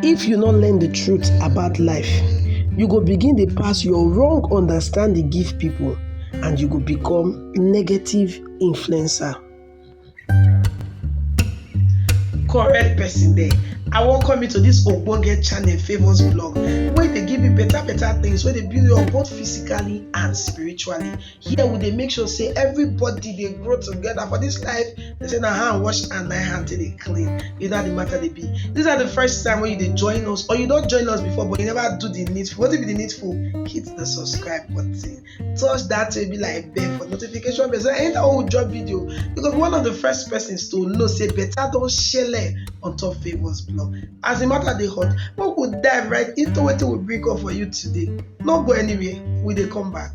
If you no learn the truth about life, you go begin dey pass your wrong understanding give people and you go become negative influencer. Correct person there. I welcome you to this ogbonge channel famous blog wey dey give you better better things wey dey build you up both physically and spiritually. here we dey make sure say everybody dey grow together for this life they say na hand wash and na hand take dey clean you know how the matter dey be this na the first time wey you dey join us or you don join us before but you never do the needful wetin be the needful hit the subscribe button touch that way be like bell for notification bell so anytime wey we drop video you go be one of the first persons to know say better don shele on top favours blog as the matter dey hot make we dive right into wetin we bring up for you today no go anywhere we dey come back.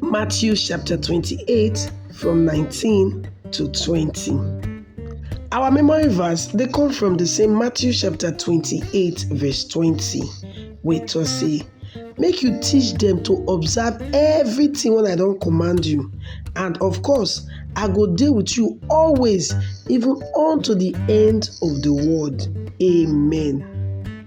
Matthew chapter 28 from 19 to 20. Our memory verse they come from the same Matthew chapter 28 verse 20 wey tok say make you teach them to observe everything when I don't command you and of course I go deal with you always even unto the end of the world. Amen.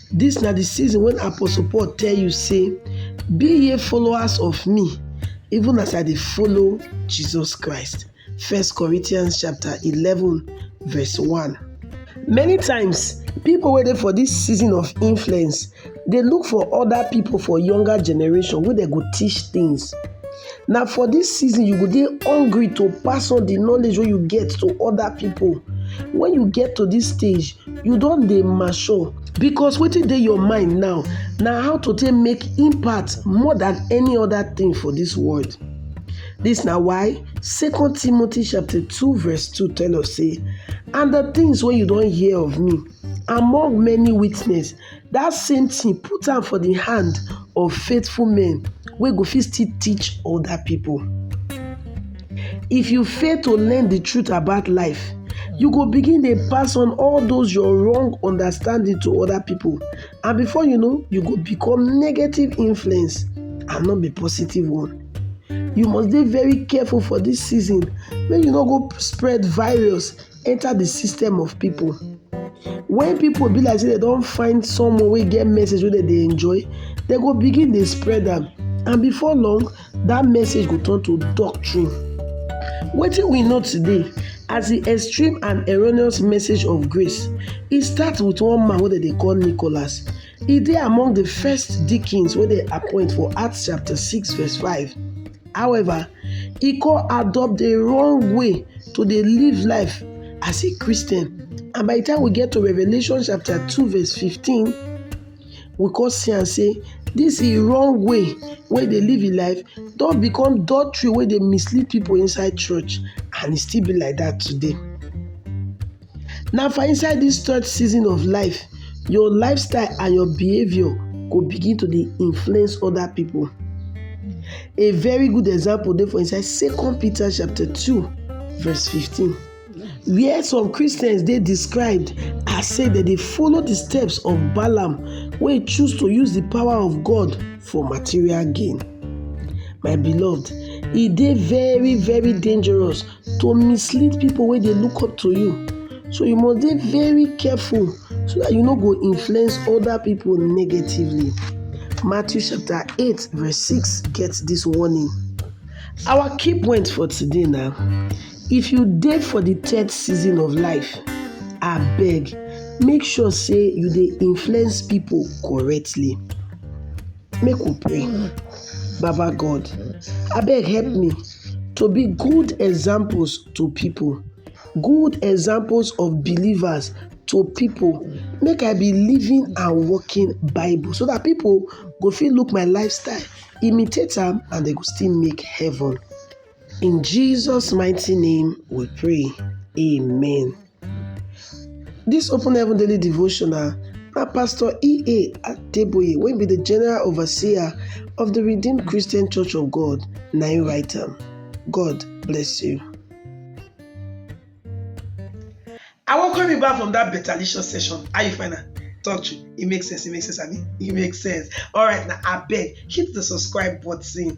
Dis na di season wen Apostle Paul tell you sey, Be ye followers of me, even as I dey follow Jesus Christ. First Corinthians chapter eleven verse one. Many times, pipo wey dey for dis season of influence dey look for oda pipo for younger generation wey dem go teach tins. Na for dis season you go dey hungry to pass on di knowledge wey you get to oda pipo. Wen you get to dis stage, you don dey mature because wetin dey your mind now na how to take make impact more than any other thing for this world this na why second timothy chapter 2 verse 2 tell us say and the things wey you don hear of me among many witness Dat same thing put am for the hand of faithful men wey go fit still teach other people. If you fail to learn the truth about life, you go begin dey pass on all those your wrong understanding to other people and before you know, you go become negative influence and not be positive one. You must dey very careful for this season make you no go spread virus enter the system of people when people be like say they don't find someone wey get message wey dem dey enjoy they go begin dey spread am and before long that message go turn to doctrine wetin we know today as the extreme and erroneous message of grace e start with one man wey dem dey call nicholas E dey among the first deacons wey dem appoint for Acts chapter 6 verse 5. However, e come adopt the wrong way to dey live life as a Christian. And by the time we get to Revelation chapter 2 verse 15, we come see am say this e wrong way wey dey live im life don become doctrine wey dey mislead people inside church and e still be like that today. Na for inside dis third season of life your lifestyle and your behaviour go begin to dey influence other people. A very good example dey for inside second Peter chapter two verse fifteen where some Christians dey described as say dem dey follow the steps of Balaam wey choose to use the power of God for material gain. My beloved, e dey very very dangerous to mislead people wey dey look up to you. So you must dey very careful so that you no go influence other people negatively. Matthew chapter 8 verse 6 get this warning. Our key point for today now, if you dey for the third season of life, abeg make sure say you dey influence people correctly. Make we pray. Baba God, abeg help me to be good examples to people, good examples of believers to people. Make I be living and working Bible so that people go fit look my lifestyle, imitate am, and they go still make heaven. In Jesus' mighty name we pray. Amen. Dis Open Heaven Daily Devotional na Pastor E.A. Adeboye wey be the General Overseer of the Redeemed Christian Church of God na im write am. God bless you. I welcome you back from that betalicious session. How you find am? Talk true. It makes sense. It makes sense. I mean, it makes sense. All right, now I beg, hit the subscribe button.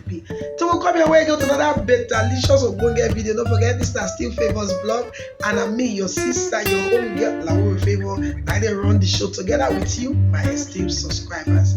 be till we come your way again with another betalicious ogbonge video no forget this na still favours blog and na me your sister your own girl lawo favour na dey run the show together with you my esteemed subscribers.